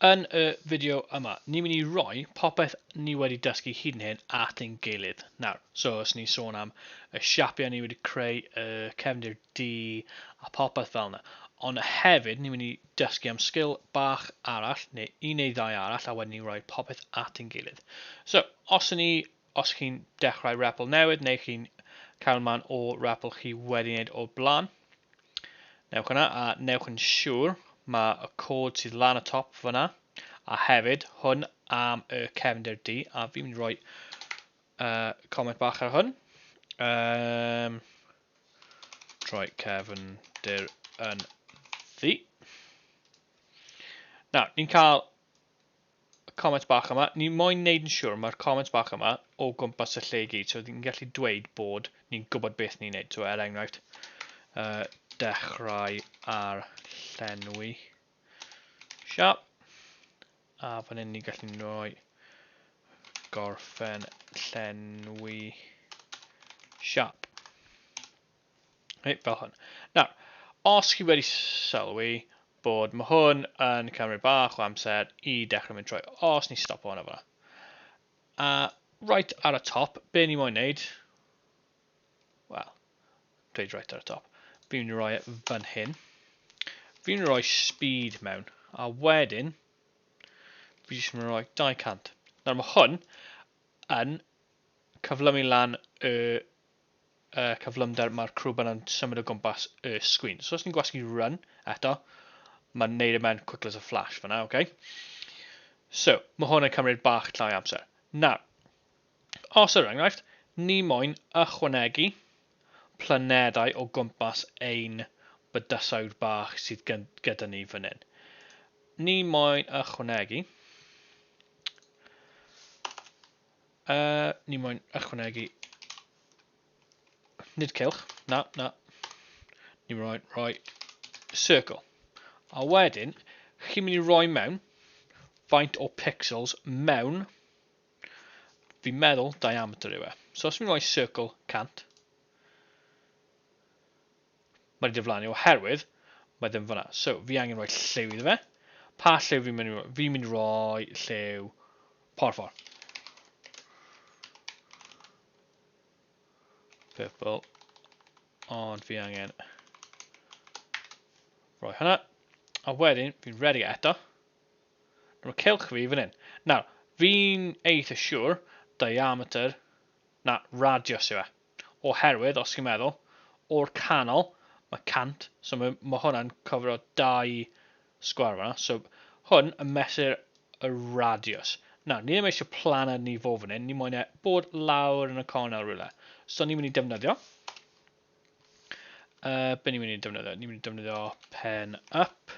Yn y fideo yma, ni'n mynd i roi popeth ni wedi dysgu hyd yn hyn at ein gilydd. Nawr, so os ni'n sôn am y siapiau ni wedi creu, y cefndir D a popeth fel yna. Ond hefyd, ni'n mynd i dysgu am sgil bach arall, neu un neu ddau arall, a wedyn ni'n rhoi popeth at ein gilydd. So, os ni Os chi'n dechrau REPL newydd neu chi'n cael man o REPL chi wedi wneud o'r blaen, newch yna a newch yn siŵr mae y cod sydd lan y top fyna, a hefyd hwn am y cefndir du, a fi'n mynd i roi uh, comment bach ar hwn. Um, troi cefndir yn ddu. Nawr, ni'n cael y comments bach yma, ni moyn neud yn siwr, mae'r comments bach yma o gwmpas y lle i gyd, so ni'n gallu dweud bod ni'n gwybod beth ni'n neud. So er enghraifft, uh, dechrau ar llenwi siap, a fan hyn ni'n gallu rhoi gorffen llenwi siap. Reit, fel hwn. Nawr, os chi wedi sylwi bod mae hwn yn cymryd bach o amser i dechrau mynd trwy, os ni stop hwn o fyna. A right ar y top, be ni moyn wneud, wel, dweud right ar y top, fi'n mynd i roi e fan hyn, fi'n mynd i roi speed mewn, a wedyn, fi jyst mynd i roi 200. Nawr mae hwn yn cyflymu lan y y cyflymder mae'r crwb yna'n symud o gwmpas y sgrin. So os ni'n gwasgu run eto, mae'n neud e mewn quick as a flash fyna, oce? Okay? So, mae hwn yn cymryd bach llai amser. Nawr, os yr enghraifft, ni moyn ychwanegu planedau o gwmpas ein bydysawd bach sydd gyda ni fan hyn. Ni moyn ychwanegu Uh, ni moyn ychwanegu. Nid cilch. Na, na. Ni moyn rhoi circle. A wedyn, chi'n mynd i roi mewn faint o pixels mewn fi'n meddwl diameter yw e. So os fi'n rhoi circle 100, Mae di diflannu oherwydd mae ddim fanna. So, fi angen rhoi lliw iddo fe. Pa lliw fi'n mynd i roi? Fi'n mynd i roi lliw porffor. Purple. Ond fi angen rhoi hwnna. A wedyn, fi'n redig e eto. Mae cilch fi fan hyn. Nawr, fi'n eitha siwr diameter na radius yw e. Oherwydd os chi'n meddwl, o'r canol, mae 100, so mae ma hwnna'n cofro dau sgwâr fanna, so hwn yn mesur y radiws. Nawr, ni ddim eisiau planed ni fo fan hyn, ni moyn e bod lawr yn y cornel rhywle. So ni'n mynd i defnyddio, uh, be ni'n mynd i defnyddio? Ni'n mynd i defnyddio pen up,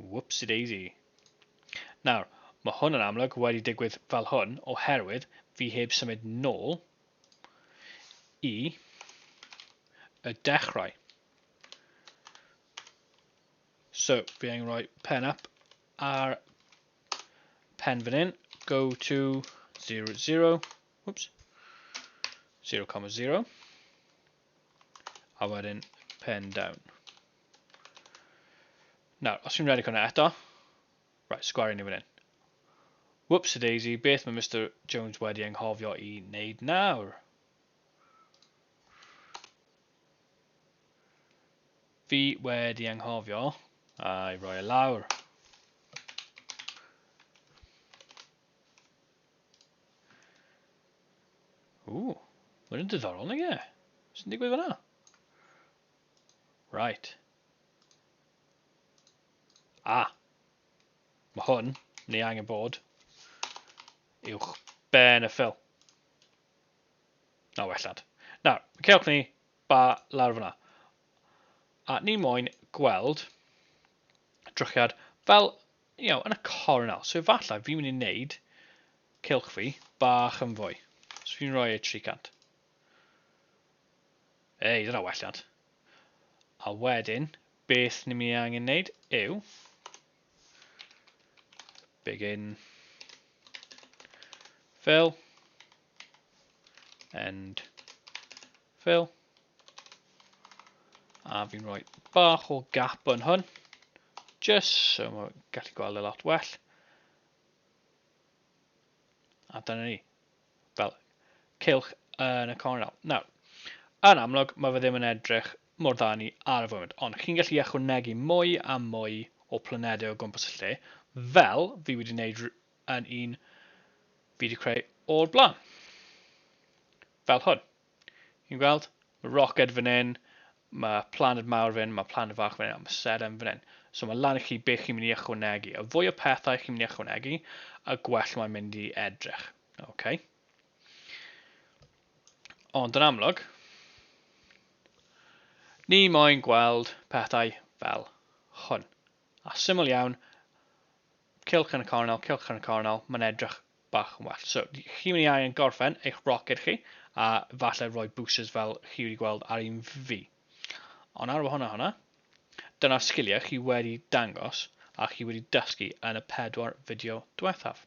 Whoopsie-daisy. Nawr, mae hwn yn amlwg wedi digwydd fel hwn oherwydd fi heb symud nôl i y dechrau. So, fi angen rhoi pen up ar pen fan hyn, go to 0, 0, whoops, 0, 0. A wedyn pen down. Nawr, os fi'n redeg hwnna eto, right, sgwario ni fan hyn. Whoops a daisy, beth mae Mr Jones wedi enghofio i wneud nawr? Fi wedi enghofio a'i roi e lawr. Ooh, mae'n yn diddorol, nag e? Sy'n digwydd fyna? Right. Ah. Mae hwn, ni angen bod, uwch ben y ffil. Na, wellad. Na, cewch ni ba lawr fyna. A ni moyn gweld drychiad fel you know, yn y corn nawr. So efallai fi'n mynd i wneud cylch fi bach yn fwy. So fi'n rhoi e 300. Ei, dyna welliant. A wedyn, beth ni'n mynd i angen wneud yw begin fill and fill a fi'n rhoi bach o gap yn hwn Just so mae gallu gweld y e lot well. A dyna ni. Fel cilch yn y cornel. Nawr, yn amlwg, mae fe ddim yn edrych mor dda ni ar y foment, ond chi'n gallu ychwanegu mwy a mwy o planedau o gwmpas y lle, fel fi wedi gwneud yn un fi wedi creu o'r blaen. Fel hwn. Chi'n gweld? Mae roced fan hyn, mae planed mawr fan hyn, mae planed fach fan hyn, a mae sedem fan hyn. So mae lan i chi beth chi'n mynd i ychwanegu. A fwy o pethau chi'n mynd i ychwanegu, a gwell mae'n mynd i edrych. Okay. Ond yn amlwg, ni moyn gweld pethau fel hwn. A syml iawn, cilch yn y cornel, cilch yn y cornel, mae'n edrych bach yn well. So, chi mynd i angen gorffen eich roced chi, a falle rhoi boosters fel chi wedi gweld ar un fi. Ond ar wahanol hwnna, dyna'r sgiliau chi wedi dangos a chi wedi dysgu yn y pedwar fideo diwethaf.